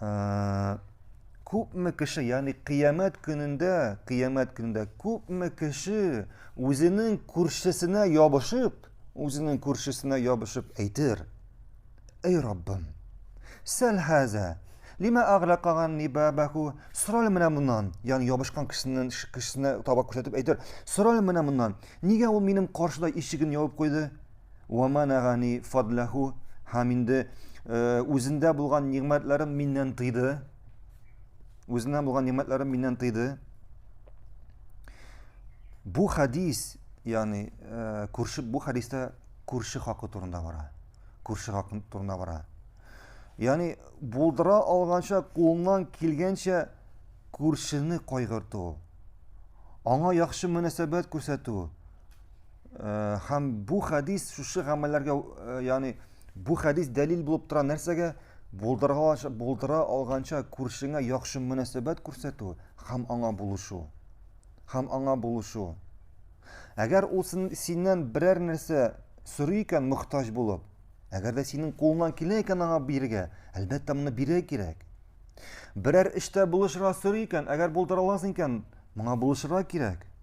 Ә, күпме кеше, ягъни кыямәт көнендә, кыямәт көнендә күпме кеше үзенең күршесенә ябышып, үзенең күршесенә ябышып әйтер: "Эй Раббым, сәл хәзә, лима агълакаган нибабаху, сорал менә моннан", ягъни ябышкан кешенең кешесенә таба күрсәтеп әйтер: "Сорал менә моннан, нигә ул минем каршыда ишеген ябып куйды? Уаманагани фадлаху һәм инде үзендә булган нигъмәтләрен миннән тыйды. Үзендә булган нигъмәтләрен миннән тыйды. Бу хадис, ягъни күрше бу хадистә күрше хакы турында бара. Күрше хакы турында бара. Ягъни булдыра алганча кулыннан килгәнчә күршене кайгырту. Аңа яхшы мөнәсәбәт күрсәтү. һәм бу хәдис шушы гамәлләргә ягъни бу хәдис дәлил булып тора нәрсәгә булдыра, булдыра алганча күршеңә яхшы мөнәсәбәт күрсәтү һәм аңа булышу һәм аңа булышу әгәр ул синнән берәр нәрсә сорый икән мохтаҗ булып әгәр дә синең кулыңнан килә икән аңа бирергә әлбәттә моны бирә кирәк берәр эштә булышырга сорый икән әгәр булдыра аласың икән моңа булышырга кирәк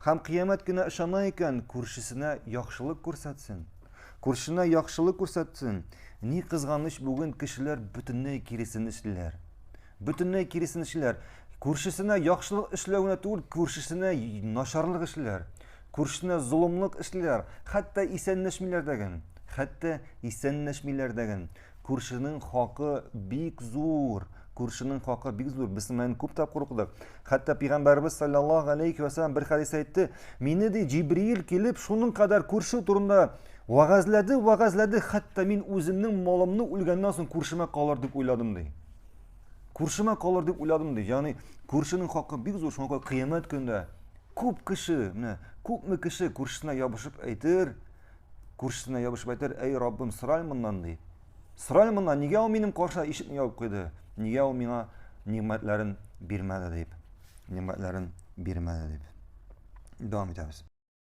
Һәм кыямәт көнә ышана икән, күршесенә яхшылык күрсәтсен. Күршенә яхшылык күрсәтсен. Ни кызганыч, бүген кешеләр бөтенләй киресен эшлиләр. Бөтенләй киресен эшлиләр. Күршесенә яхшылык эшләвенә түгел, күршесенә начарлык эшлиләр. Күршесенә золымлык эшлиләр. Хәтта исәнләшмиләр дәген. Хәтта исәнләшмиләр дәген. Күршенең хакы бик зур. Күршенең хакы бик зур. Без менә күп тапкыр укыдык. Хәтта пәйгамбәрбез саллаллаһу алейхи ва саллям бер хәдис әйтте. Мине ди Җибриил килеп шуның кадәр күрше турында вәгазьләде, вәгазьләде, хәтта мин үземнең малымны үлгәннән соң күршемә калыр дип уйладым ди. Күршемә калыр дип уйладым ди. Ягъни күршенең хакы бик зур. Шуңа күрә кыямәт көндә күп кеше, менә күпме кеше күршесенә ябышып әйтер, күршесенә ябышып әйтер, әй Раббым, сыраль моннан, ди. Сыраль моннан, нигә ул минем каршыда ишекне ябып куйды? Нигә ул миңа нигъмәтләрен бирмәде дип? Нигъмәтләрен бирмәде дип. Дәвам итәбез.